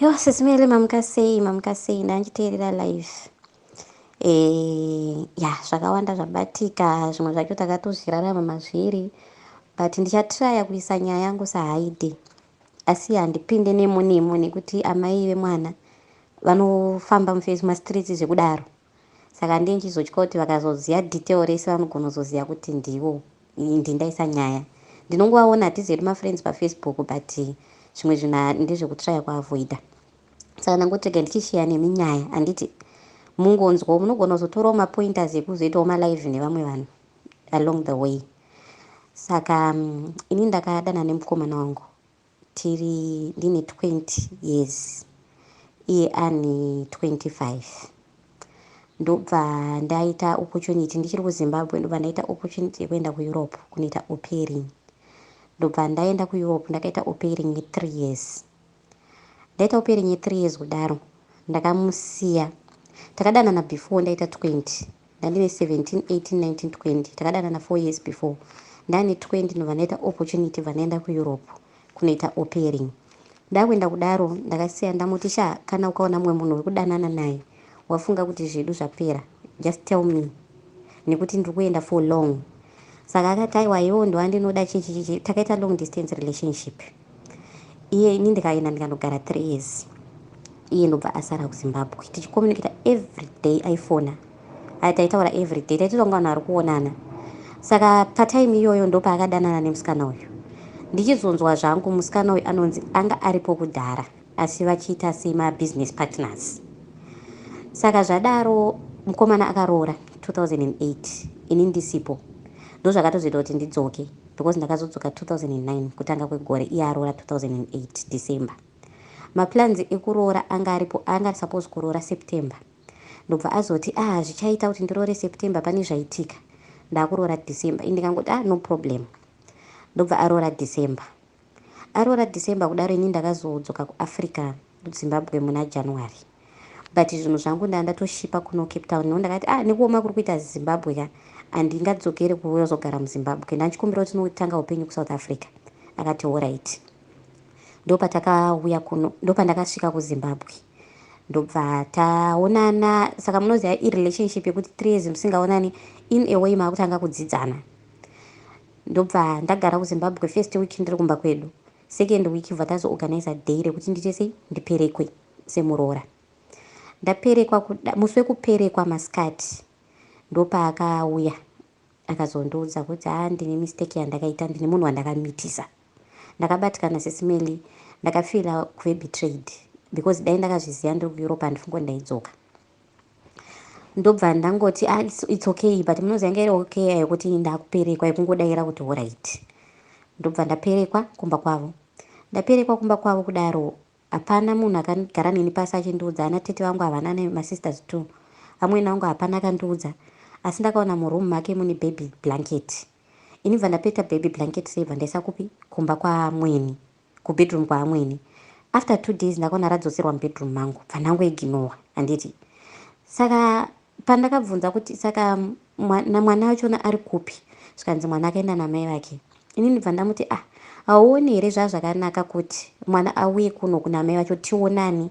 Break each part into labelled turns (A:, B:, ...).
A: Yo sisi Mele mamuka sei mamuka sei ndanchiteerera live. Eh ya zvakawanda zvabatika zvimwe zvacho takatozvirarama mazviri but ndichatiraya kuisa nyaya yangu sahaidi asi handipinde nemo nemo nekuti amai vemwana vanofamba mufesi mastreets zvekudaro. Saka ndini ndichizotya kuti vakazoziva detail rese vanogonozoziva kuti ndivo. Indi ndaisa nyaya. Ndinongovaona hatizi hedu mafriends pafacebook but zvimwe zvinhu ndezvekutryer kuavoider. Saka ndangoti rega ndichisheya nemi nyaya handiti mungonzwawo munogona kuzotorawo mapointers ekuzoitawo malive nevamwe vanhu along the way. Saka mm, ini ndakadana nemukomana wangu Tiri ndine 20 years iye ane 25 ndobva ndaita opportunity ndichiri kuZimbabwe ndobva ndaita opportunity yekuenda kuEurope kunoita opering ndobva ndaenda kuEurope ndakaita opering ye 3 years ndaita opering ye 3 years kudaro ndakamusiya takadanana before ndaita 20 Ndandine 17, 18, 19, 20. Takadanana four years before. Ndane 20 ndobva ndaita opportunity bva ndaenda kuEurope kunoita opering. Ndakuenda kudaro ndakasiya ndamuti sha kana ukaona mumwe munhu wekudanana naye wafunga kuti zvedu zvapera just tell me nekuti ndiri kuenda for long. Saka akati aiwa iwewo ndowandinoda chichi chichi. Takaita long distance relationship. iye ini ndikaenda ndikanogara three years iye ndobva asara kuzimbabwe tichicommunicata every day aifona aya taitaura every day taitotonga vanhu ari kuonana saka patime iyoyo ndopaakadanana nemusikana uyu ndichizonzwa zvangu musikana uyu anonzi anga aripo kudhara asi vachiita semabusiness partners saka zvadaro mukomana akaroora 2008 ini ndisipo ndozvakatozoita kuti ndidzoke because ndakazodzoka 2009 kutanga kwegore iye aroora 2008 December. Maplans ekuroora anga aripo anga ari suppose kuroora September ndobva azoti ah zvichaita kuti ndiroore September pane zvaitika ndakuroora December ende ndikangoti ah no problem ndobva aroora December. Aroora December kudaro ini ndakazodzoka kuAfrica kuZimbabwe muna January but zvinhu zvangu ndanga ndatoshipa kuno Cape Town nekuti ndakati ah nekuoma kuri kuita Zimbabwe ka handingadzokere kuzogara muZimbabwe ndachikumbira kuti tinotanga upenyu kuSouth Africa akati horaiti ndopatakauya kuno ndopandakasvika kuzimbabwe ndobva taonana saka munoziva irelationship yekuti three years musingaonani in a way maakutanga kudzidzana Ndobva ndagara kuZimbabwe first week ndiri kumba kwedu. Second week bva tazo organizer day rekuti ndiite sei ndiperekwe semuroora. Ndaperekwa kuda musi wekuperekwa masikati ndopaakauya akazondiudza kuti haa ndine mistake yandakaita ndine munhu wandakamitisa. Ndakabatikana sisi Melly ndakafeeler kuve betrayed because dai ndakazviziva ndiri kuEurope handifunge kuti ndaidzoka. ndobva ndangoti ah, it's, it's okay but munoziva yanga iri okay yekuti ndakuperekwa yekungodaira kuti horait ndobva ndaperekwa kumba kwavo ndaperekwa kumba kwavo kudaro hapana munhu akagara neni pasi achindiudza ana tete vangu havana nemasisters two amwene angu hapana akandiudza asi ndakaona muroom make mune baby blanket ini bva ndapeta baby blanket sei bva ndaisa kupi kumba kwamweni kubedroom kwaamwene after two days ndakaona radzoserwa mubedroom mangu bva ndangoiginowa handiti saka pandakabvunza kuti saka mwana mwana wachona ari kupi zvikanzi mwana akaenda namai vake inini bva ndamuti ah hauoni here zvazvakanaka kuti mwana auye kuno kunamai vacho tionani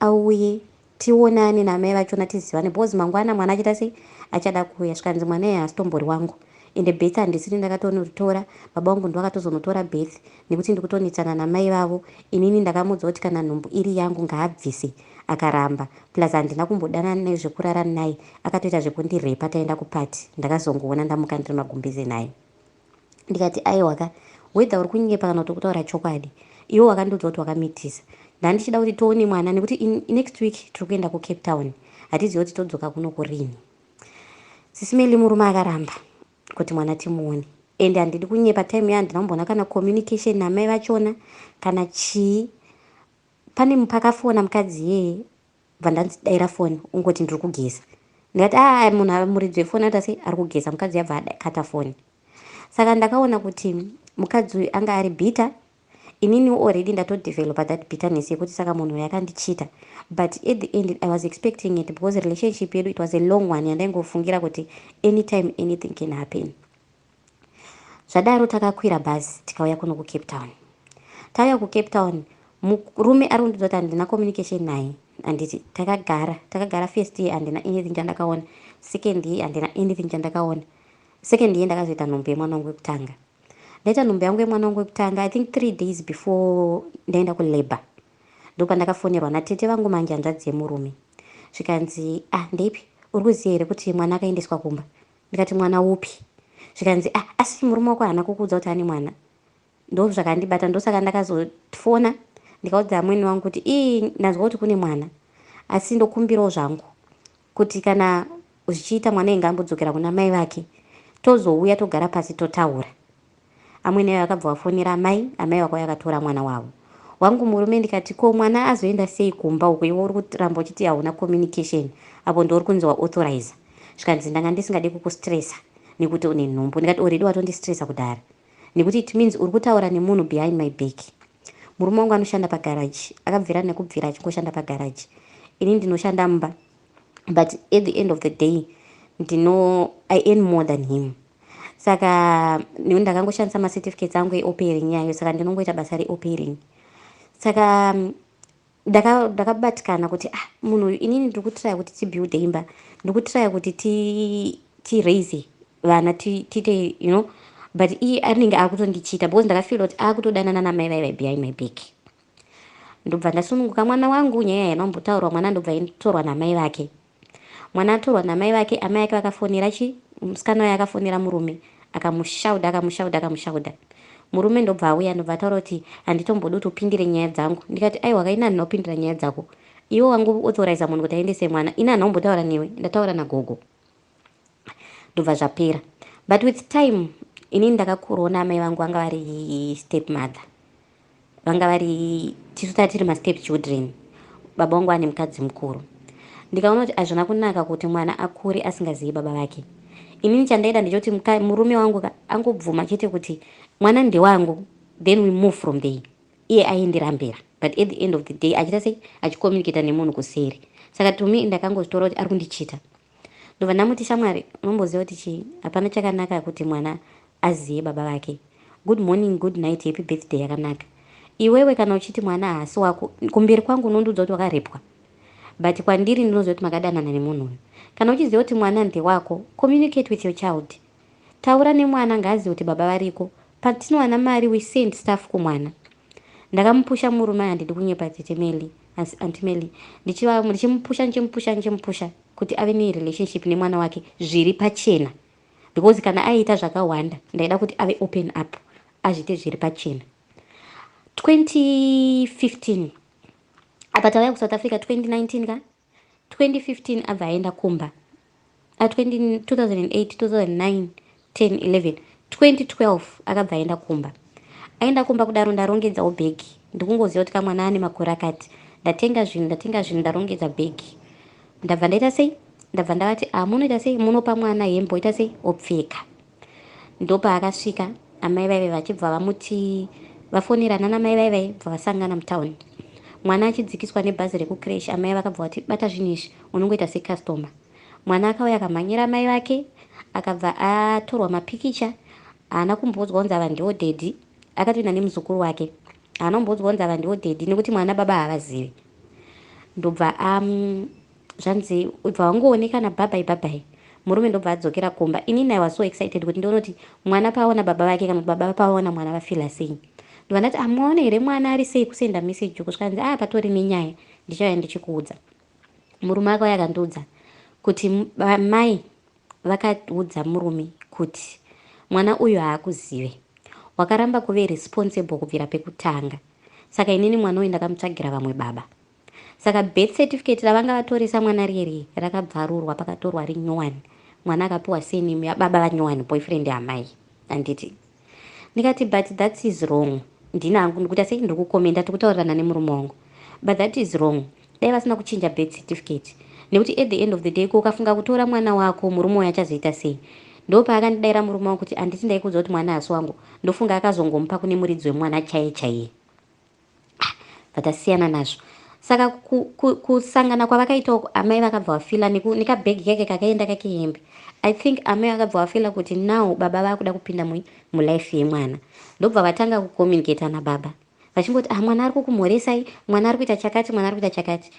A: Auye tionane namai vachona tizivane because mangwana mwana achaita sei achada kuuya zvikanzi mwana iye haasitombori wangu ende birth handisini ndakatonoritora baba vangu ndovakatozonotora birth nekuti ndikutonetsana namai vavo inini ndakamuudza kuti kana nhumbu iri yangu ngaabvise akaramba plus handina kumbodanana naye zvekurara naye akatoita zvekundirepa taenda kuparty ndakazongoona ndamuka ndiri magumbeze naye ndikati aiwa ka whether uri kunyepa kana kuti kutaura chokwadi iwe wakandiudza kuti wakamitisa ndandichida kuti toone mwana nekuti in next week tiri kuenda kucape town hatizive kuti todzoka kuno kurini sisimeli murume akaramba kuti mwana timuone and handidi kunyepa time yandina kumboona kana communication namai vachona kana chii pane mupakafona mukadzi iyeye ndakabva ndanzi daira foni ungoti ndiri kugeza ndikati aa ah, munhu amuridzwe foni anoita sei ari kugeza mukadzi uyu abva akata foni saka ndakaona kuti mukadzi uyu anga ari bitter inini already ndatodevelopa that bitterness yekuti saka munhu uyu akandichita but at the end i was expecting it because relationship yedu it was a long one yandaingofungira kuti anytime anything can happen Zvadaro takakwira bhazi tikauya kuno kuCape Town. Tauya kuCape Town murume ari kundiudza kuti handina communication naye handiti takagara takagara first year handina anything chandakaona second year handina anything chandakaona second year ndakazoita nhombe yemwana wangu wekutanga ndaita nhombe yangu yemwana wangu wekutanga i think three days before ndaenda kulabor ndopandakafonerwa natete vangu manje hanzvadzi yemurume zvikanzi ah ndeipi uri kuziva here kuti mwana akaendeswa kumba Ndikati mwana upi? Zvikanzi ah asi murume wako haana kukuudza kuti ane mwana? Ndozvakandibata ndosaka ndakazofona ndikaudza amweni wangu kuti ii ndanzwa kuti kune mwana asi ndokumbirawo zvangu kuti kana zvichiita mwana inga ambodzokera kuna mai vake tozouya togara pasi totaura. Amwene ayo akabva wafonera amai, amai vakauya vakatora mwana wavo. Wangu murume ndikati ko mwana azoenda sei kumba uko iwe uri kuramba uchiti hauna communication apo ndiwe uri kunzi wa authorizer. Zvikanzi ndanga ndisingade kukustresser nekuti une nhumbu ndikati already watondistresser kudhara nekuti it means uri kutaura nemunhu behind my back. Murume wangu anoshanda pagarage akabvira nekubvira achingoshanda pagarage ini ndinoshanda mumba but at the end of the day ndino I earn more than him. saka nekuti ndakangoshandisa macertificates angu eopering yayo saka ndinongoita basa reopering saka ndakabatikana kuti ah munhu uyu inini ndiri kutiraya kuti tibuilde imba ndiri kutiraya kuti tiraise vana tiite you know but iye anenge akutondichita because ndakafila kuti akutodanana namai vaiva behind my back ndobva ndasununguka mwana wangu nyaya yanombotaurwa mwana ndobva inditorwa namai vake Mwana atorwa namai vake amai ake vakafonera chi musikana uya akafonera murume akamushaudha akamushaudha akamushaudha murume ndobva auya ndobva ataura kuti handitombodi kuti upindire nyaya dzangu ndikati aiwa ka ini handina kupindira nyaya dzako iwe wangu authorize munhu kuti aendese mwana ini handina kumbotaura newe ndataura nagogo ndobva zvapera but with time inini ndakakurona amai vangu vanga vari step mother vanga vari tisu tanga tiri mastep children baba wangu ane mukadzi mukuru ndikaona kuti azvina kunaka kuti mwana akure asingazivi baba vake inini chandaida ndechoti murume wangu ka angobvuma chete kuti mwana ndewangu then we move from there iye aindirambira but at the end of the day achiita sei achicommunicata nemunhu kuseri saka to me ndakangozvitora kuti ari kundichita Ndobva ndamuti shamwari unomboziva kuti chii hapana chakanaka kuti mwana aziye baba vake good morning good night happy birthday yakanaka iwewe kana uchiti mwana haasi wako kumberi kwangu unondiudza kuti wakarepwa but kwandiri ndinoziva kuti makadanana nemunhu uyu kana uchiziva kuti mwana ndewako communicate with your child taura nemwana ngaazive kuti baba variko patinowana mari we send staff kumwana ndakamupusha murume aya ndidi kunyepa tete meli Asi Aunty Melly ndichiva ndichimupusha ndichimupusha ndichimupusha kuti ave ne relationship nemwana wake zviri pachena because kana aiita zvakawanda ndaida kuti ave open up azviite zviri pachena 2015 apa tauya kusouth africa 2019 ka 2015 abva aenda kumba uh, 20, 2008 2009 10 11 2012 akabva aenda kumba aenda kumba kudaro ndarongedzawo bhegi ndikungoziva kuti kamwana ane makore akati ndatenga zvinhu ndatenga zvinhu ndarongedza bhegi ndabva ndaita sei ndabva ndavati a ah, munoita sei munopa mwana hembe oita sei opfeka Ndopaakasvika amai vaive vachibva vamuti vafonera nana mai vaive vaibva vasangana mutown. Mwana achidzikiswa nebhazi rekucresh amai vakabva vati bata zvinhu izvi unongoita secustomer. Mwana akauya akamhanyira amai vake akabva atorwa mapikicha haana kumboudzwa kunzi ava ndiwo daddy akatoenda nemuzukuru wake haana kumboudzwa kunzi ava ndiwo daddy nekuti mwana baba havazivi ndobva am zvanzi ibva wangooneka nabhabhai bhabhai murume ndobva adzokera kumba inini i was so excited kuti ndionoti mwana paaona baba vake kana kuti baba pavaona mwana vafila sei ndobva ndati amwaona here mwana ari sei kusenda message uku zvikanzi aya patori nenyaya ndichauya ndichikuudza murume akauya akandiudza kuti mai vakaudza murume kuti mwana uyu haakuzive wakaramba kuve responsible kubvira pekutanga saka inini mwana uyu ndakamutsvagira vamwe baba Saka birth certificate ravanga vatoresa mwana riye riye rakabvarurwa pakatorwa rinyowani mwana akapiwa surname yababa vanyowani boyfriend yaamai handiti. Ndikati but that is wrong ndini hangu ndikuita sei ndiri kukomenda tiri kutaurirana nemurume wangu but that is wrong dai vasina kuchinja birth certificate nekuti at the end of the day ko ukafunga kutora mwana wako murume uyo achazoita sei ndo paakandidaira murume wangu kuti handiti ndaikuudza kuti mwana hasi wangu ndofunga akazongomupa kune muridzi wemwana chaiye chaiye bvata siyana nazvo saka kusangana kwavakaita uku amai vakabva vafila nekabhegi kake kakaenda kake hembe i think amai vakabva vafila kuti now baba vakuda kupinda mulife yemwana ndobva vatanga kucommunicata nababa vachingoti ah mwana ari kukumhoresai mwana ari kuita chakati mwana ari kuita chakati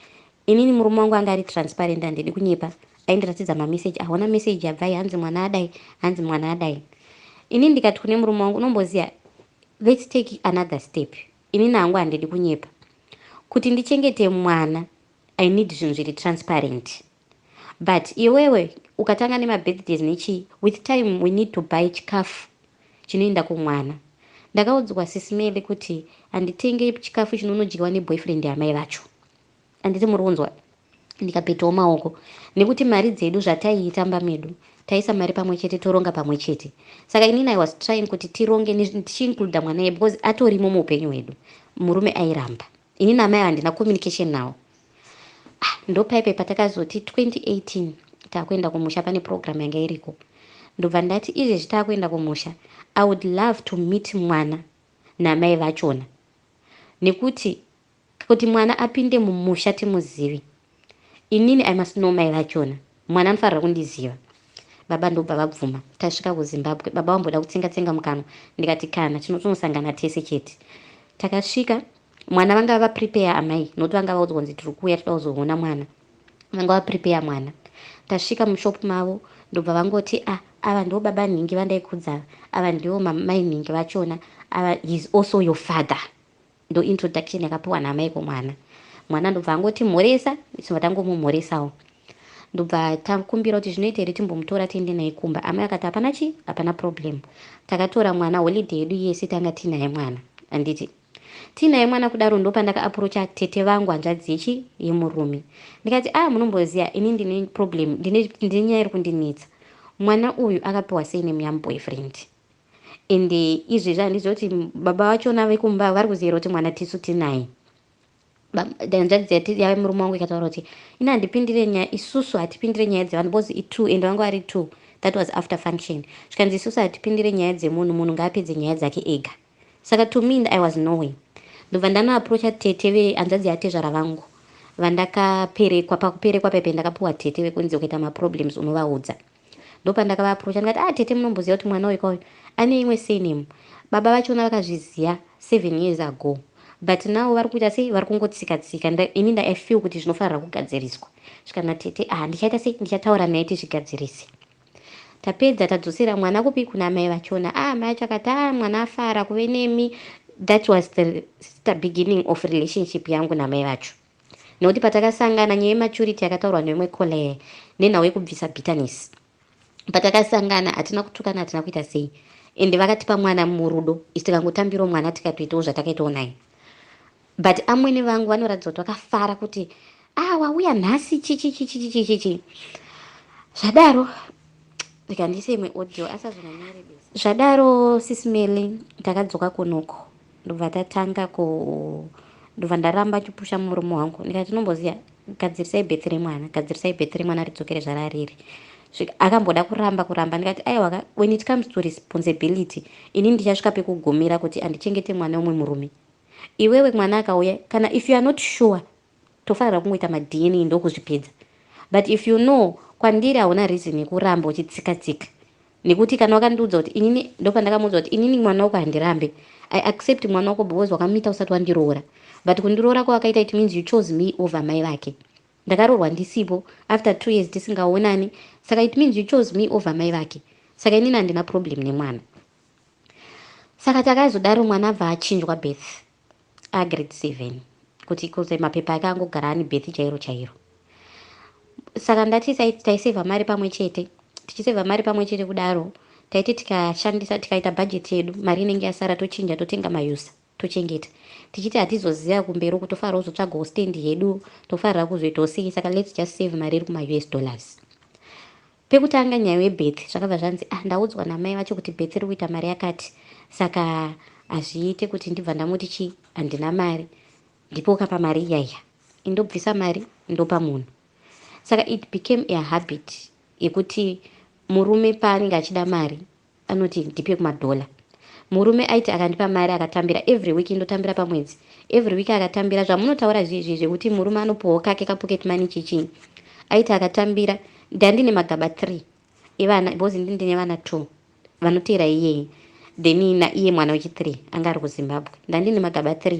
A: Inini murume wangu anga ari transparent handidi kunyepa aindiratidza mamessage ahona message yabvai hanzi mwana adai hanzi mwana adai inini ndikati kune murume wangu unomboziva let's take another step inini hangu handidi kunyepa kuti ndichengete mwana i need zvinhu zviri transparent but iwewe ukatanga nemabirthdays nechii with time we need to buy chikafu chinoenda kumwana ndakaudzwa sisimele kuti handitenge chikafu chinonodyiwa neboyfriend yamai vacho Handiti muri kunzwa? Ndikapetawo maoko nekuti mari dzedu zvataiitamba medu taisa mari pamwe chete toronga pamwe chete saka inini i was trying kuti tironge tichiincluda mwana iye because atorimo muupenyu hwedu murume airamba inini amai handina communication nawo ah, ndopaipe patakazoti 2018 taakuenda kumusha pane program yanga iriko ndobva ndati izvezvi taakuenda kumusha i would love to meet mwana namai vachona nekuti Kuti mwana apinde mumusha timuzive. Inini I must know mai vachona. Mwana anofanirwa kundiziva. Baba ndobva vabvuma. Tasvika kuZimbabwe baba vamboda kutsenga tsenga mukanwa ndikati kana tinotonosangana tese chete. Takasvika mwana vanga vava prepare amai nokuti vanga vaudzwa kunzi tiri kuuya toda kuzoona mwana. Vanga va prepare mwana. Tasvika mushop mavo ndobva vangoti ah ava ndivo baba nhingi vandaikudza ava ndivo mai nhingi vachona ava he is also your father. Ndo introduction yakapiwa naamai kumwana. Mwana ndobva angoti mhoresa, tichibva tangomumhoresawo. Ndobva takumbira kuti zvinoita here timbomutora tiende naye kumba. Amai vakati hapana chii, hapana problem. Takatora mwana holiday yedu yese tanga tinaye mwana. Handiti? Tinaye mwana kudaro ndopandaka approacha tete vangu hanzvadzi yechi yemurume. Ndikati ah munomboziva ini ndine problem, ndine nyaya iri kundinetsa. Mwana uyu akapiwa surname yamuboyfriend. And izvezvi handizive kuti baba vachona vekumba vari kuzivira kuti mwana tisu tinaye. Hanzvadzi yati yave murume wangu ikataura kuti ini handipindire nyaya isusu hatipindire nyaya dzevanhu because i two and vanga vari two that was after function zvikanzi isusu hatipindire nyaya dzemunhu munhu ngaapedze nyaya dzake ega saka to me i was no way ndobva ndanoaprocha tete vehanzvadzi yatezvara vangu vandakaperekwa pakuperekwa paipe ndakapuwa tete vekunzi ukaita maproblems unovaudza ndopandakava approacha ndikati ah tete munomboziva kuti mwana uyu kauyu ane imwe surname baba vachona vakazviziva seven years ago but now vari kuita sei vari kungotsika tsika ini nda i feel kuti zvinofanirwa kugadziriswa zvikana tete ah ndichaita sei ndichataura naye tizvigadzirise tapedza tadzosera mwana kupi kuna mai vachona a ah, mai acho akati a ah, mwana afara kuve nemi that was the, the beginning of relationship yangu namai vacho Nokuti patakasangana nyaya yematurity yakataurwa neumwe Kole nenhau yekubvisa bitterness. Patakasangana hatina kutukana hatina kuita sei and vakatipa mwana murudo isu tikangotambirawo mwana tikatoitawo zvatakaitawo naye. But amwene vangu vanoratidza kuti vakafara kuti ah wauya nhasi chichichichichichichi zvadaro ndikandiise imwe audio asazonanyarebesa zvadaro sisi Melly ndakadzoka kunoko. ndobva tatanga ku ndobva ndaramba chipusha murume wangu ndikati tinomboziva gadzirisai bethi remwana gadzirisai bethi remwana ridzokere zvarariri akamboda kuramba kuramba ndikati aiwa when it comes to responsibility ini ndichasvika pekugumira kuti andichengete mwana wemwe murume iwewe mwana akauya kana if you are not sure Tofarira kungoita ma DNA ndokuzvipedza but if you know kwandiri hauna reason yekuramba uchitsika tsika nekuti kana wakandiudza kuti inini ndopandakamuudza kuti inini mwana wako handirambe I accept mwana wako because wakamita usati wandiroora but kundiroora kwawakaita it means you chose me over mai vake ndakaroorwa ndisipo after two years tisingaonani saka it means you chose me over mai vake saka inini handina problem nemwana saka takazodaro mwana abva achinjwa birth agrade seven kuti kunze mapepa ake angogara ane birth chairo chairo saka ndati taiseva mari pamwe chete tichiseva mari pamwe chete kudaro taiti tikashandisa tikaita bhajeti yedu mari inenge yasara tochinja totenga mayusa tochengeta tichiti hatizoziva kumberi uku tofanira kuzotsvagawo stand hedu tofanira kuzoitawo sei saka lets just save mari iri kumaus dollars Pekutanga nyaya yebirth zvakabva zvanzi ah ndaudzwa namai vacho kuti birth riri kuita mari yakati saka hazviite kuti ndibva ndamuti chii handina mari ndipo ukapa mari iya iya indobvisa mari ndopa munhu saka it became a habit yekuti murume paanenge achida mari anoti ndipe kumadollar murume aiti akandipa mari akatambira every week ndotambira pamwedzi every week akatambira zvamunotaura zviizvi zvekuti murume anopuhwa kake kapocket money chichinyi aiti akatambira ndandine magaba 3 evana because ndi ndine vana 2 vanoteera iyeye then naiye mwana wechi 3 anga ari kuzimbabwe ndandine magaba 3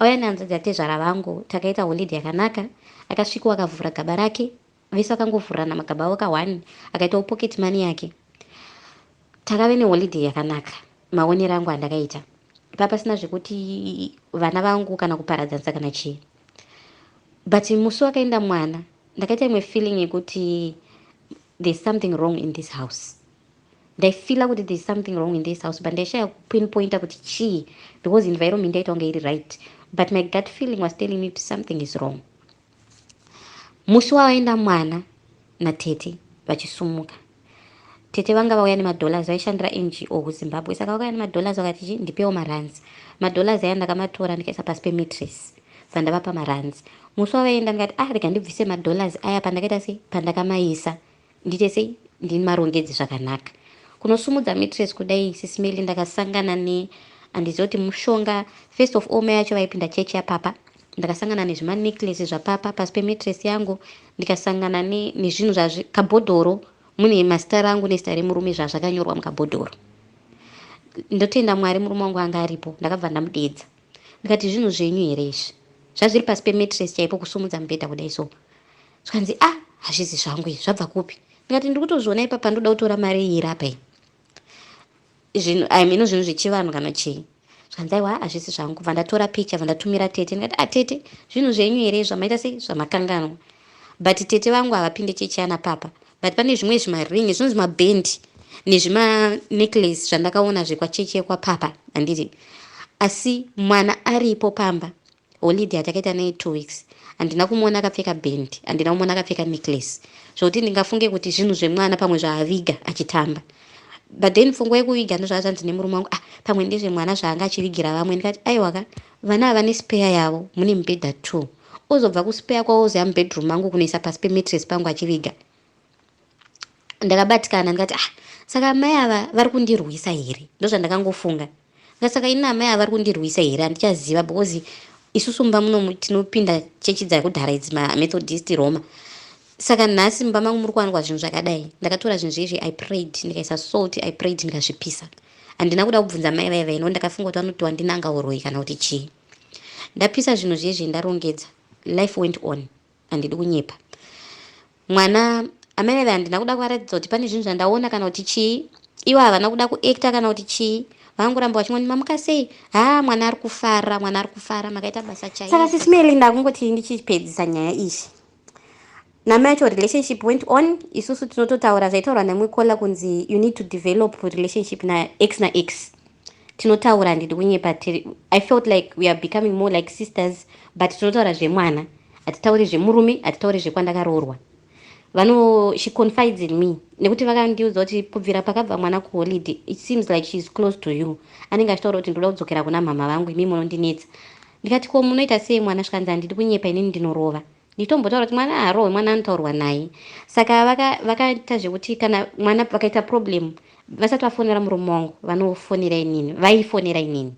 A: Auya nehanzvadzi yatezvara vangu takaita holiday yakanaka. Akasvikowo akavhura gaba rake vese vakangovhurana magaba avo ka one akaitawo pocket money yake. Takave neholiday yakanaka maonero angu andakaita. Papasina zvekuti vana vangu kana kuparadzanisa kana chii. But musi wakaenda mwana ndakaita imwe feeling yekuti there's something wrong in this house. Ndaifeeler kuti there's something wrong in this house but ndaishaya kupinpointer kuti chii because environment yaita kunge iri right but my gut feeling was telling me kuti something is wrong. Musi wavaenda mwana natete vachisumuka tete vanga vauya nemadollars vaishandira ngo kuzimbabwe saka vakauya nemadollars vakati chi ndipewo maruns madollars aya ndakamatora ndikaisa pasi pematress pandavapa maruns musi wavaenda ndikati ah rega ndibvise madollars aya pandakaita sei pandakamaisa Ndiite sei ndimarongedze zvakanaka. Kunosumudza mattress kudai sis Melly ndakasangana ne handizive kuti mushonga first of all mai vacho vaipinda church yapapa ndakasangana nezvima necklace zvapapa pasi pemattress yangu ndikasangana ne nezvinhu zvazvi kabhodhoro mune mazita rangu nezita remurume zvazvakanyorwa mukabhodhoro ndotenda mwari murume wangu anga aripo ndakabva ndamudeedza ndikati zvinhu zvenyu here izvi zvazviri pasi pemattress chaipo kusumudza mubhedha kudai so zvikanzi a ah, hazvizi zvangu izvi zvabva kupi ndikati ndiri kutozviona ipapa ndoda kutora mari iyi iri apa iyi zvinhu i mean zvinhu zvechivanhu kana chii zvikanzi aiwa hazvisi zvangu kubva ndatora picha vandatumira tete ndikati a ah, tete zvinhu zvenyu here zvamaita sei zvamakanganwa but tete vangu havapinde chechiana papa but pane zvimwe zvimaringi zvinhu zvimabhendi nezvimanecklace zvandakaona zvekwachechi yekwapapa handiti asi mwana aripo pamba Holiday hatakaita naye two weeks handina kumuona akapfeka band handina kumuona akapfeka necklace zvokuti ndingafunge kuti zvinhu zvemwana pamwe zvaaviga achitamba but then pfungwa yekuviga ndozvaa zvanzi nemurume wangu ah pamwe ndezvemwana zvaanga achivigira vamwe ndikati aiwaka vana ava nespeya yavo mune mibhedha two ozobva kuspeya kwavo ozoya mubedroom mangu kunoisa pasi pemetres pangu achiviga ndakabatikana ndikati ah saka amai ava vari kundirwisa here ndozvandakangofunga ndikati saka ini amai ava vari kundirwisa here handichaziva because isusu mumba muno tinopinda chechi dzakudhara idzi mamethodist roma saka nhasi mumba mangu muri kuwanikwa zvinhu zvakadai ndakatora zvinhu zvezvi i prayed ndikaisa salt i prayed ndikazvipisa handina kuda kubvunza mai vaiva ino ndakafunga kuti vanoti wandinanga uroyi kana kuti chii ndapisa zvinhu zvezvi ndarongedza life went on Handidi kunyepa. Mwana, Amai Veve handina kuda kuvaratidza kuti pane zvinhu zvandaona kana kuti chii. Ivo havana kuda kuactor kana kuti chii. Vangoramba vachingoti mamuka sei? Haa mwana ari kufara, mwana ari kufara, makaita basa chaiyo. Saka sisi Melly ndakungoti ndichipedzisa nyaya iyi. Namai yacho relationship went on, isusu tinototaura zvaitaurwa nemwe Kola kunzi you need to develop relationship naex naex. tinotaura handidi kunyepa tiri i felt like we are becoming more like sisters but tinotaura zvemwana hatitauri zvemurume hatitauri zvekwandakaroorwa vano she confides in me nekuti vakandiudza kuti kubvira pakabva mwana kuholiday it seems like she is close to you anenge achitaura kuti ndoda kudzokera kuna mhamha vangu imi munondinetsa ndikati ko munoita sei mwana svikanzi handidi kunyepa inini ndinorova nditombotaura kuti mwana aharohwe mwana anotaurwa naye saka vakaita vaka zvekuti kana mwana vakaita problem Vasati vafonera murume wangu vanofonera inini, vaifonera inini.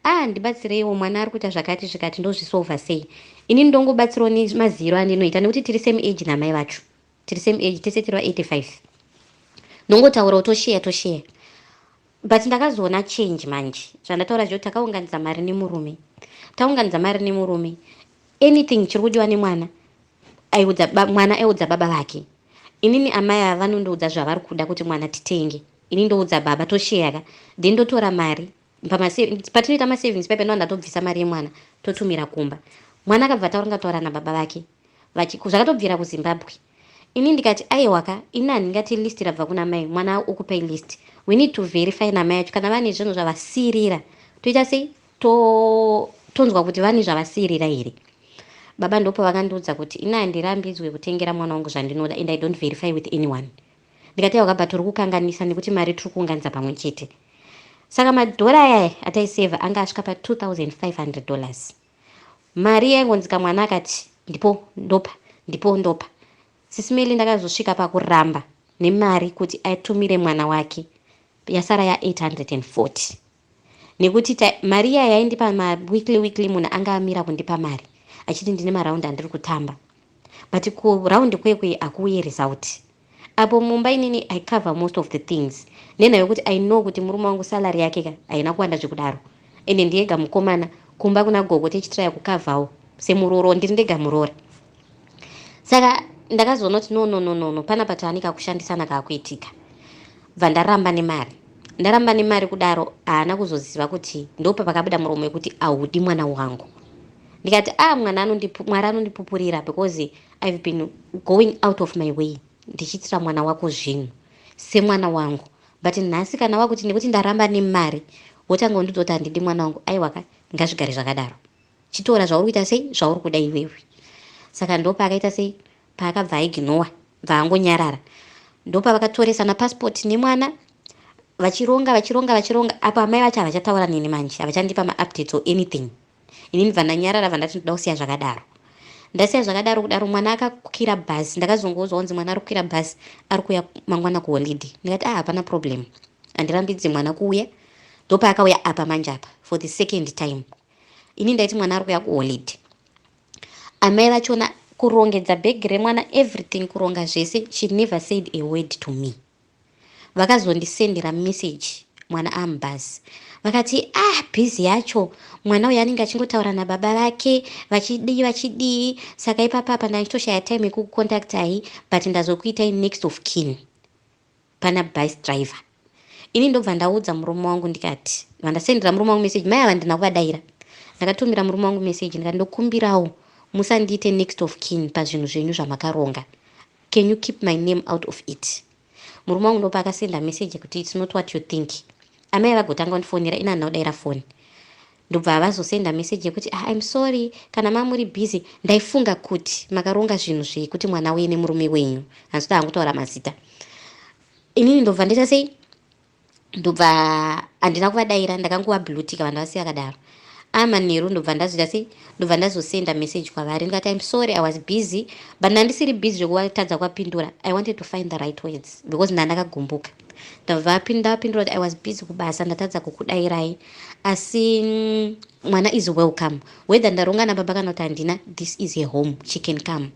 A: Ah ndibatsireiwo mwana ari kuita zvakati zvikati ndozvisolver sei. Inini ndongobatsirawo nemaziyiro andinoita nekuti tiri same age namai vacho. Tiri same age tese tiri va 85. Ndongotaurawo tosheya tosheya. But ndakazoona change manje. Zvandataura zvo takaunganidza mari nemurume. Taunganidza mari nemurume. Anything chiri kudiwa nemwana Aiudza ba, mwana aiudza baba vake. Inini amai ava vanondiudza zvavari kuda kuti mwana titenge. Ini ndoudza baba tosheyaka. Then ndotora mari. Patinoita masavings paipa ndova ndatobvisa mari yemwana totumira kumba. Mwana akabva ataura ngataura nababa vake. Vachiku zvakatobvira kuZimbabwe. Ini ndikati aiwaka ini handingati list rabva kuna mai mwana ukupai list. We need to verify namai yacho kana vane zvinhu zvavasirira. Toita sei? to tonzwa kuti vane zvavasiirira here baba ndopo vakandiudza kuti ini handirambidzwe kutengera mwana wangu zvandinoda and i don't verify with anyone ndikati yauka but uri kukanganisa nekuti mari tiri kuunganidza pamwe chete saka madhora aya ataiseva anga asvika pa2500 dollars mari yaingonzika mwana akati ndipo ndopa ndipo ndopa sisimeli ndakazosvika pakuramba nemari kuti atumire mwana wake yasara ya840 nekuti mari iya yaindipa maweekly weekly munhu anga amira kundipa mari achiti ndine maraundi andiri kutamba but kuraundi kwekwe hakuuye result apo mumba inini i cover most of the things nenha yokuti i know kuti murume wangu salary yake ka haina kuwanda zvekudaro ende ndiyega mukomana kumba kuna gogo tichitiraya kukavhawo semuroro ndiri ndega muroora saka ndakazoona kuti no no no no no panapa taani kakushandisana kakuitika bva ndaramba nemari ndaramba nemari kudaro haana kuzoziva kuti ndopa pakabuda muromo wekuti ahudi mwana wangu ndikati a ah, mwana mwari anondipupurira because ive been going out of my way ndichiitira mwana wako zvinhu semwana wangu but nhasi kana wakuti nekuti ndaramba nemari wotanga undidza kuti handidi mwana wangu aiwaka ngazvigare zvakadaro Chitora zvauri kuita sei zvauri kuda iwewe. Saka ndopaakaita sei paakabva aignowa bvaangonyarara ndopavakatoresa mapassport nemwana vachironga vachironga vachironga apo amai vacho havachataura neni manje havachandipa maupdates or anything inini bvandanyarara bvandati ndoda kusiya zvakadaro ndasiya zvakadaro kudaro mwana akakwira bhasi ndakazongoudzwa kunzi mwana ari kukwira bhasi ari kuuya mangwana kuholiday ndikati ah hapana problem handirambidzi mwana kuuya ndopaakauya apa manje apa for the second time ini ndaiti mwana ari kuya kuholiday amai vachona kurongedza bhegi remwana everything kuronga zvese she never said a word to me vakazondisendera message mwana amubhazi vakati ah bhizi yacho mwana uyo anenge achingotaura nababa vake vachidii vachidii saka ipapapa ndanditoshaya time yekukucontactai but ndazokuitai next of kin pana bus driver ini ndobva ndaudza murume wangu ndikati ndobva ndasendera murume wangu message mai ava ndina kuvadaira ndakatumira murume wangu message ndikati ndokumbirawo musandiite next of kin pazvinhu zvenyu zvamakaronga can you keep my name out of it murume wangu ndopa akasenda message kuti its not what you think amai vagotanga kundifonera ini handina kudaira foni ndobva avazosenda message yekuti ah, im sorry kana mamuri busy ndaifunga kuti makaronga zvinhu zvekuti mwana uye nemurume wenyu hanzi kuti angutaura mazita inini ndobva ndoita sei ndobva handina kuvadaira ndakanguvablutika vanhu vasiya kadaro amanheru ndobva ndazoita sei ndobva ndazosenda message kwavari ndikati im sorry i was busy but ndandisiri busy zvekuvatadza kuvapindura i wanted to find the right words because ndandakagumbuka Ndavapinda vapindura kuti I was busy kubasa ndatadza kukudairai asi mm, mwana is welcome whether ndaronga nababa kana kuti handina this is her home she can come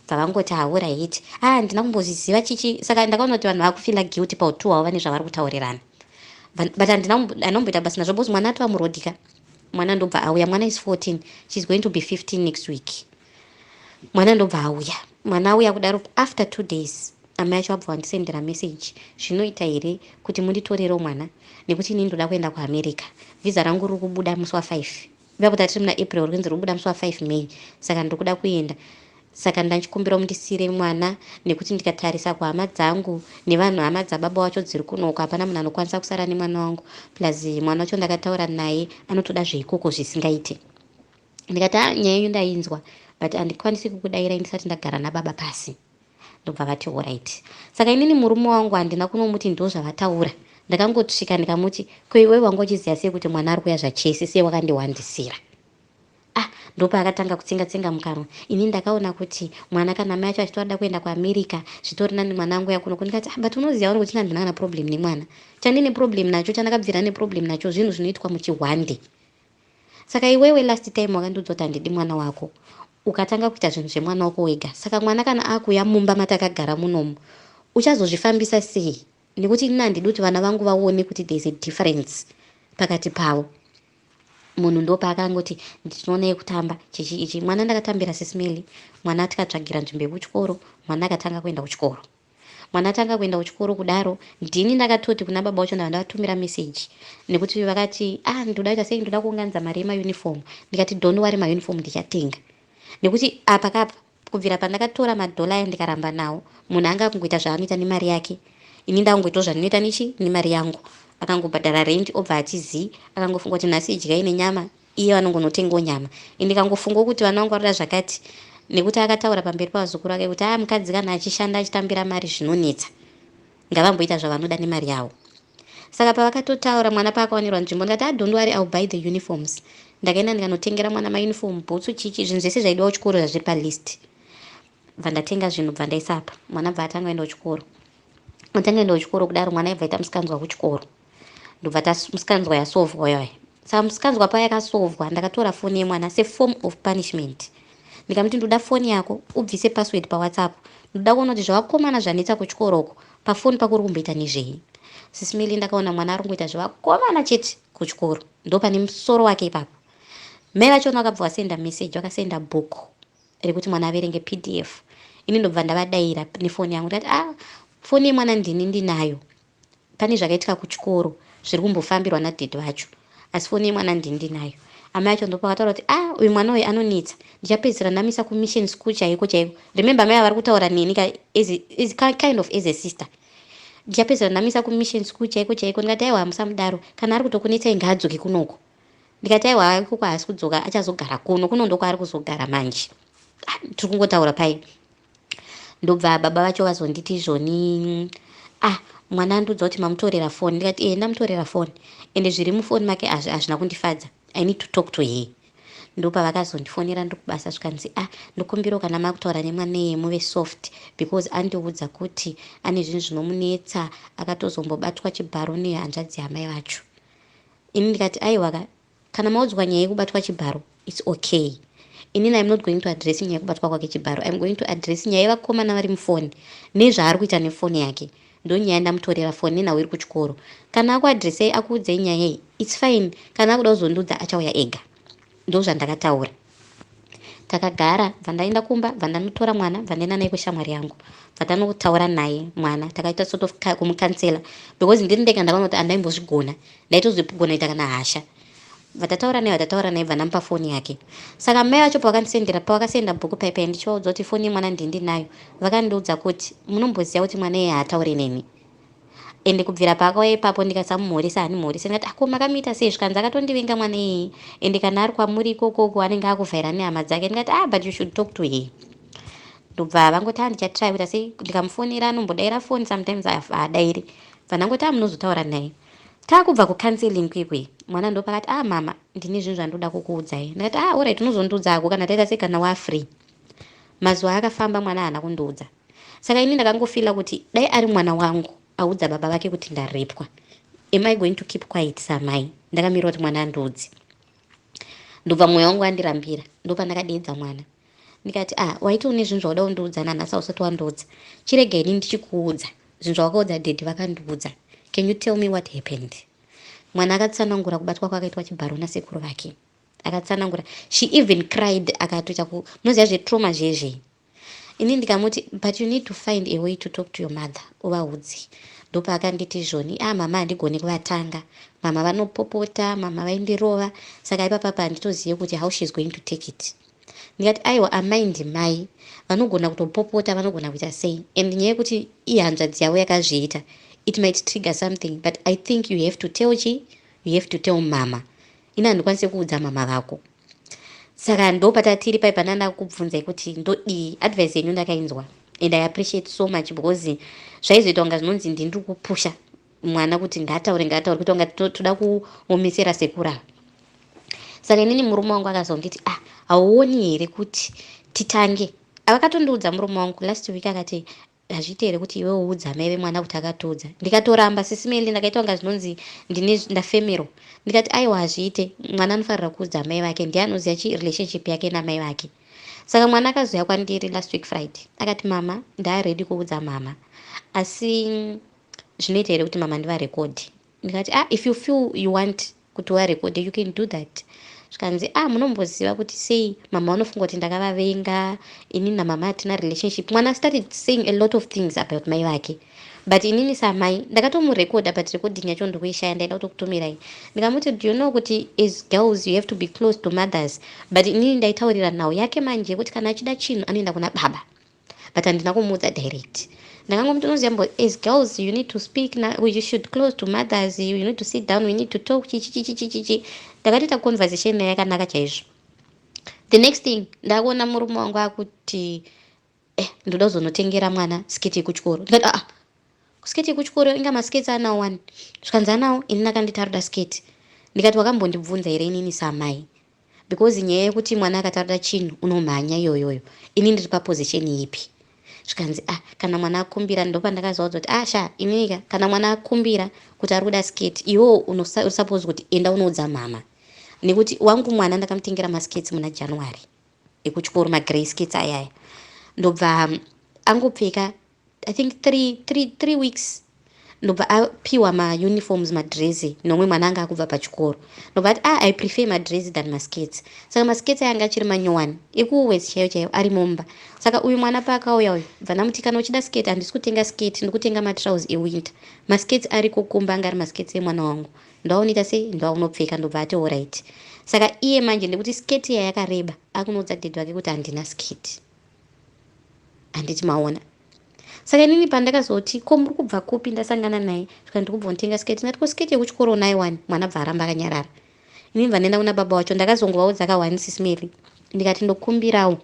A: bvavangoti haura hiti a ah, handina kumbozviziva chichi saka ndakaona kuti vanhu vakufila guilty pautu hwavo vane zvavari kutaurirana but andinomboita basi nazvo bos mwana atova murodika mwana ndobva auya mwana is 14 she's going to be 15 next week mwana ndobva auya mwana auya kudaro after two days amai acho abva vandisendera message zvinoita here kuti munditorerewo mwana nekuti inini ndoda kuenda kuamerica vhiza rangu riri kubuda musi wafive iva kuti atiri muna april rinzi riri kubuda musi wafive may saka ndiri kuda kuenda saka ndachikumbira mundisiire mwana nekuti ndikatarisa kuhama dzangu nevanhu hama dzababa wacho dziri kunoko hapana munhu anokwanisa kusara nemwana wangu plus mwana wacho ndakataura naye anotoda zveikoko zvisingaite ndikati a ah, nyaya yenyu ndainzwa but handikwanisi kukudairai ndisati ndagara nababa pasi ndobva vati orit saka inini murume wangu handina kunomuti ndo zvavataura ndakangotsvika ndikamuti ko iwewe wanga uchiziva sei kuti mwana ari kuya zvachese sei wakandiwandisira ah ndopa akatanga kutsenga tsenga mukanwa ini ndakaona kuti mwana kana mai acho achitoda kuenda kuamerica zvitori nani mwana angu yakuno kundikati ah but unoziva uri kuti ndandina kana problem nemwana chandine problem nacho chandakabvira neproblem nacho zvinhu zvinoitwa muchihwande Saka iwewe last time wakandiudza kuti handidi mwana wako ukatanga kuita zvinhu zvemwana wako wega saka mwana kana akuuya mumba matakagara munomu uchazozvifambisa sei nekuti ini handidi kuti vana vangu vaone kuti there is a difference pakati pavo munhu ndopaakangoti ndinoona yekutamba chichi ichi mwana ndakatambira sismeli mwana tikatsvagira nzvimbo yekuchikoro mwana akatanga kuenda kuchikoro Mwana atanga kuenda kuchikoro kudaro ndini ndakatoti kuna baba wacho ndava ndavatumira message nekuti vakati ah ndoda kuita sei ndoda kuunganidza mari yemauniform ndikati don't worry mauniform ndichatenga nekuti apa kapa kubvira pandakatora madhola aya ndikaramba nawo munhu anga akungoita zvaanoita nemari yake ini ndakungoitawo zvandinoita nechi nemari yangu akangobhadhara rendi obva atizi akangofunga kuti nhasi idyai nenyama iye vanongonotengawo nyama and ndikangofungawo kuti vana vangu varoda zvakati nekuti akataura pamberi pavazukuru vake kuti aa mukadzi kana achishanda achitambira mari zvinonetsa ngavamboita zvavanoda nemari yavo saka pavakatotaura mwana paakawanirwa nzvimbo ndikati adont ah, wari ill buy the uniforms ndakaenda ndikanotengera mwana mauniform bhutsu chichi zvinhu zvese zvaidiwa kuchikoro zvazviri palist bva ndatenga zvinhu bva ndaisapa mwana bva atanga enda kuchikoro atanga enda kuchikoro kudaro mwana aibva aita musikanzwa kuchikoro ndobva tamusikanzwa yasovwa yoy saka musikanzwa paya yakasovwa ndakatora foni yemwana seform of punishment ndikamuti ndoda foni yako ubvise password pawhatsapp ndoda kuona kuti zvavakomana zvanetsa kuchikoroko pafoni pako uri kumboita nezvei sisimili ndakaona mwana ari kungoita zvevakomana chete kuchikoro ndo pane musoro wake ipapo mai vachona vakabva vasenda meseji vakasenda book rekuti mwana averenge pdf ini ndobva ndavadaira nefoni yangu ndikati a ah, foni yemwana ndini ndinayo Pane zvakaitika kuchikoro zviri kumbofambirwa nadad vacho asi foni yemwana ndini ndinayo. Amai vacho ndopavataura kuti ah uyu mwana uyu anonetsa ndichapedzisira ndamisa kumission school chaiko chaiko. Remember amai ava vari kutaura neni ka as, as kind of as a sister ndichapedzisira ndamisa kumission school chaiko chaiko ndikati aiwa hamusamudaro kana ari kutokunetsai ngaadzoke kunoko ndikati aiwa ikoko haasi kudzoka achazogara kuno kuno ndokwaari kuzogara manje ah, tiri kungotaura pai ndobva baba vacho vazonditi izvoni ah mwana andiudza kuti mamutorera foni ndikati ee eh, ndamutorera foni ende zviri mufoni make azvi hazvina kundifadza i need to talk to her ndopavakazondifonera ndokubasa zvikanzi ah ndokumbirawo kana makutaura nemwaneye muve soft because andiudza kuti ane zvinhu zvinomunetsa akatozombobatwa chibharo nehanzvadzi yamai vacho ini ndikati aiwaka Kana maudzwa nyaya yekubatwa chibharo it's okay. Inini I'm not going to address nyaya yekubatwa kwake chibharo. I'm going to address nyaya yevakomana vari mufoni nezvaari kuita nefoni yake. Ndonyaya ndamutorera foni nenhau iri kuchikoro. Kana akuadressei akuudzei nyaya iyi it's fine. Kana akuda kuzondiudza achauya ega. Ndozvandakataura. takagara bvandaenda kumba bvandanotora mwana bvandaenda naye kushamwari yangu bvatanotaura naye mwana takaita sort of kumukansela because ndiri ndega ndakaona kuti andaimbozvigona ndaitozvigona ita kana hasha vatataura naye vatataura naye bvandamupa foni yake saka mai vacho pavakandisendera pavakasenda bhuku paipai ndichivaudza kuti foni yemwana ndindinayo vakandiudza kuti munomboziva kuti mwana iye haataure neni ende kubvira paakauya ipapo ndikasamumhoresa handimuhorise ndikati ako makamuita sei zvikanzi akatondivenga mwana iyeye ende kana ari kwamuri ikokoko anenge akuvhaira nehama dzake ndikati ah but you should talk to her ndobva vangoti andichatry kuita sei ndikamufonera anombodaira foni sometimes haadairi bva ndangoti amunozotaura naye taakubva kucounseling kwekwe mwana ndopakati ah mama ndine zvinhu zvandoda kukuudzai ndikati ah orit unozondiudza ako kana taita sei kana wafree mazuva akafamba mwana haana kundiudza Saka ini ndakangofila kuti dai ari mwana wangu audza baba vake kuti ndarepwa. Am I going to keep quiet samai? Ndakamirira kuti mwana andiudze. Ndobva mwoyo wangu andirambira. Ndopandakadeedza mwana. Ndikati, ah, waiti une zvinhu zvauda undiudza nanhasi ausati wandiudza. Chirega ini ndichikuudza. Zvinhu zvawakaudza daddy vakandiudza. Can you tell me what happened? Mwana akatsanangura kubatwa kwakaitwa chibharo nasekuru vake. Akatsanangura. She even cried akatoita ku munoziva zvetrauma zvezvei. ini ndikamuti but you need to find a way to talk to your mother uvaudze ndopaakanditi zvoni a ah, mama handigoni kuvatanga mama vanopopota mama vaindirova saka ipapapa handitozive kuti how sheis going to take it ndikati aiwa amai ndimai vanogona kutopopota vanogona kuita sei and nyaya yekuti ihanzvadzi yavo yakazviita it might trigger something but i think you have to tell chi you have to tell mama ini handikwanise kuudza mama vako saka ndo patatiri pai pana ndakubvunzai kuti ndodii advice yenyu ndakainzwa and i appreciate so much because zvaizoita kunga zvinonzi ndini ndiri kupusha mwana kuti ngaataure ngaataure kuita kunga toda kuomesera sekura saka inini murume wangu akazonditi ah hauoni here kuti titange avakatondiudza murume wangu last week akati Hazviite here kuti iwe uudza amai vemwana kuti akatiudza? Ndikatoramba sisi Melly ndakaita kunga zvinonzi ndine ndafemerwa. Ndikati aiwa hazviite, mwana anofarira kuudza amai vake ndiye anoziva chi relationship yake namai vake. Saka mwana akazouya kwandiri last week Friday akati mama ndaaready kuudza mhamha asi zvinoita here kuti mama ndivarekodhe? ndikati ah if you feel you want kuti warekode you can do that zvikanzi ah munomboziva kuti sei mama vanofunga kuti ndakavavenga ini namama hatina relationship mwana started saying a lot of things about mai vake but inini samai ndakatomurekodha but recording yacho ndikuishaya ndaida kutokutumirai ndikamuti do you know kuti as girls you have to be close to mothers but inini ndaitaurira nhau yake manje yekuti kana achida chinhu anoenda kuna baba but handina kumuudza direct ndakangomuti unoziva mbo as girls you need to speak na, you should close to mothers you need to sit down we need to talk chichichichichichi ndakatoita conversation naye yakanaka chaizvo the next thing ndakuona murume wangu akuti eh ndoda kuzonotengera mwana sketi yekuchikoro ndikati aa ah, sketi yekuchikoro inga masketi anawo wani zvikanzi anawo ini ndakanditaruda sketi ndikati wakambondibvunza here inini samai because nyaya yekuti mwana akataura chinhu unomhanya iyoyoyo ini ndiri paposition ipi zvikanzi ah kana mwana akumbira ndopandakazoudza kuti ah sha iniika kana mwana akumbira kuti ari kuda skate iwo unosuppose kuti enda unoudza mhama nekuti wangu mwana ndakamutengera maskates muna january ekuchikoro magrey skates ayaya ndobva angopfeka I think three, three, three weeks ndobva apiwa mauniforms madrezi nomwe mwana anga akubva pachikoro ndobva ati ah, i prefer madrezi than maskets saka maskets ayanga achiri manyowani ekuwes chaiyo chaiyo ari mumba saka uyu mwana paakauya uyu bva ndamuti kana uchida sket handisi kutenga sket ndikutenga matrouse ewinter maskets ariko kumba anga ari maskets emwana wangu ndawaunoita sei ndawaunopfeka ndobva ati orit saka iye manje ndekuti sket iya yakareba akunoudza dedi wake kuti handina sket handiti maona saka inini pandakazoti ko muri kubva kupi ndasangana naye zvikanzi ndiri kubva kunotenga sketi ndikati ko sketi yekuchikoro unayo wani mwana bva aramba akanyarara inini bva ndaenda kuna baba wacho ndakazongovaudza kawani sisi mary ndikati ndokumbirawo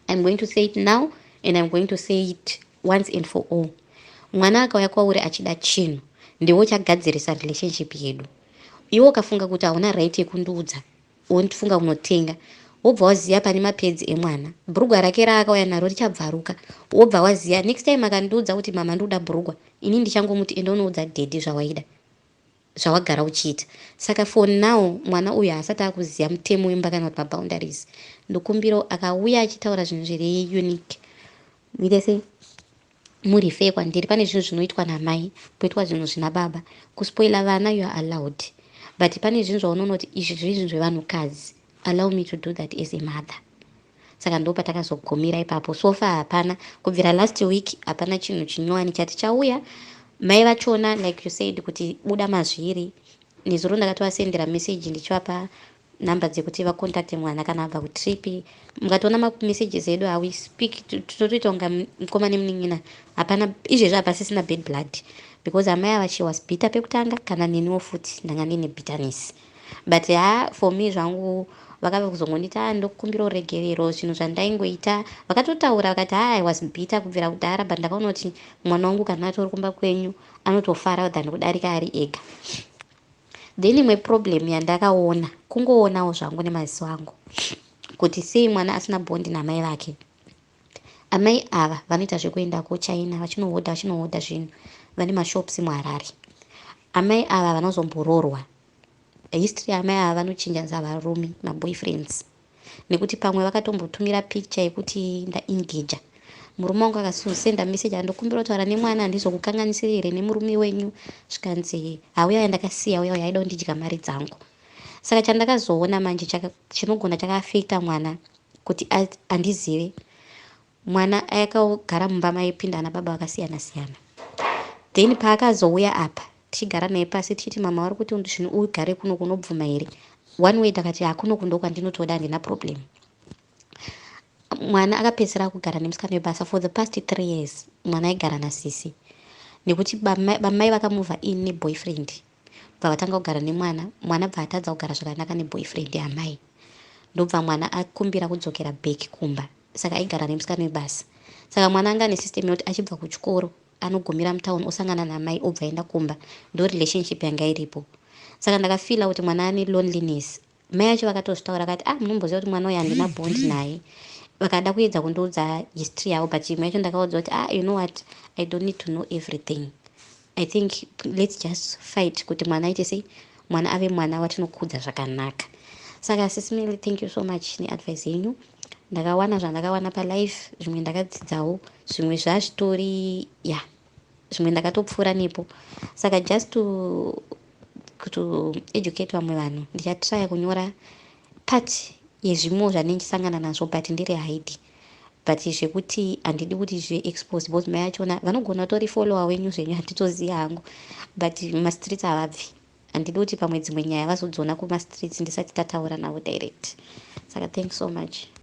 A: iam going to say it now and iam going to say it once and for all mwana akauya kwauri achida chinhu ndiwo chagadzirisa relationship yedu iwo ukafunga kuti hauna right yekundiudza Wondifunga unotenga wobva waziva pane mapedzi emwana bhurugwa rake raakauya naro richabvaruka wobva waziva next time akandiudza kuti mama ndikuda bhurugwa ini ndichangomuti enda unoudza dhedhi zvawaida zvawagara uchiita saka for now mwana uyu haasati akuziva mutemo wemba kana kuti maboundaries ndokumbirawo akauya achitaura zvinhu zviri unique muite sei Mu refer kwandiri pane zvinhu zvinoitwa na mai poitwa zvinhu zvina baba. Ku spoiler vana you are allowed but pane zvinhu zvaunonoti izvi zviri zvinhu zvevanhu kadzi allow me to do that as a mother. Saka ndopatakazogumira ipapo so far hapana kubvira last week hapana chinhu chinyowani chati chauya. Mai vachona like you said kuti buda mazviri nezuro ndakatovasendera message ndichivapa number dzekuti vacontacte mwana kana abva kutrip mukatoona mamessages edu how we speak tinotoita kunga mukoma nemunin'ina hapana izvezvi hapasisina bad blood because amai ava she was bitter pekutanga kana neniwo futi ndanga ndine bitterness but ha for me zvangu vakave kuzongondiita ah, ndokukumbira uregerero zvinhu zvandaingoita vakatotaura vakati ha ah, i was bitter kubvira kudhara but ndakaona kuti mwana wangu kana atori kumba kwenyu anotofara than kudarika ari ega Then imwe problem yandakaona kungoonawo zvangu nemaziso angu kuti sei mwana asina bond namai vake. Amai ava vanoita zvekuenda kuchina vachinohodha vachinohodha zvinhu vane mashops muharare. Amai ava vanozomboroorwa. History yamai ava vanochinja nzavarume maboyfriends. nekuti pamwe vakatombotumira picture yekuti ndaengager murume wangu akasenda message ah, ndokumbira kutaura nemwana handizokukanganisiri here nemurume wenyu zvikanzi hauya uya ndakasiya uya uya aida kundidya mari dzangu saka chandakazoona manje chinogona chakaafekta mwana kuti andizive Mwana akagara mumba maipinda ana baba vakasiyana siyana then paakazouya apa tichigara naye pasi tichiti mama vari kuti zvinhu ugare kuno kunobvuma here one way ndakati hakuno kundo kwandinotoda handina problem mwana akapedzisira kugara nemusikana webasa for the past three years mwana aigara nasisi nekuti bamai vakamuvha in neboyfriend Bva vatanga kugara nemwana, mwana bva atadza kugara zvakanaka ne boyfriend yaamai. Ndobva mwana akumbira kudzokera back kumba saka aigara nemusikana webasa. Saka mwana anga ane system yekuti achibva kuchikoro anogumira mutown osangana naamai obva aenda kumba ndo relationship yanga iripo. Saka ndakafeeler kuti mwana ane loneliness Mai vacho vakatozvitaura vakati ah munomboziva kuti mwana uyu handina bond naye vakada kuedza kundiudza history yavo but imwe yacho ndakaudza kuti ah you know what i don't need to know everything i think let's just fight kuti mwana aite sei mwana ave mwana watinokudza zvakanaka saka sisimili thank you so much neadvice yenyu ndakawana zvandakawana palife zvimwe ndakadzidzawo zvimwe zvazvitori ya yeah. zvimwe ndakatopfuura nepo saka just to, to educate vamwe vanhu ndichatraya kunyora part yezvimo zvanendisangana nazvo but ndiri hide but zvekuti handidi kuti zviexpose because mai achona vanogona utori follower wenyu zvenyu handitozivi hangu but mumastreets havabvi handidi kuti pamwe dzimwe nyaya vazodziona kumastreets ndisati tataura navo direct saka thanks so much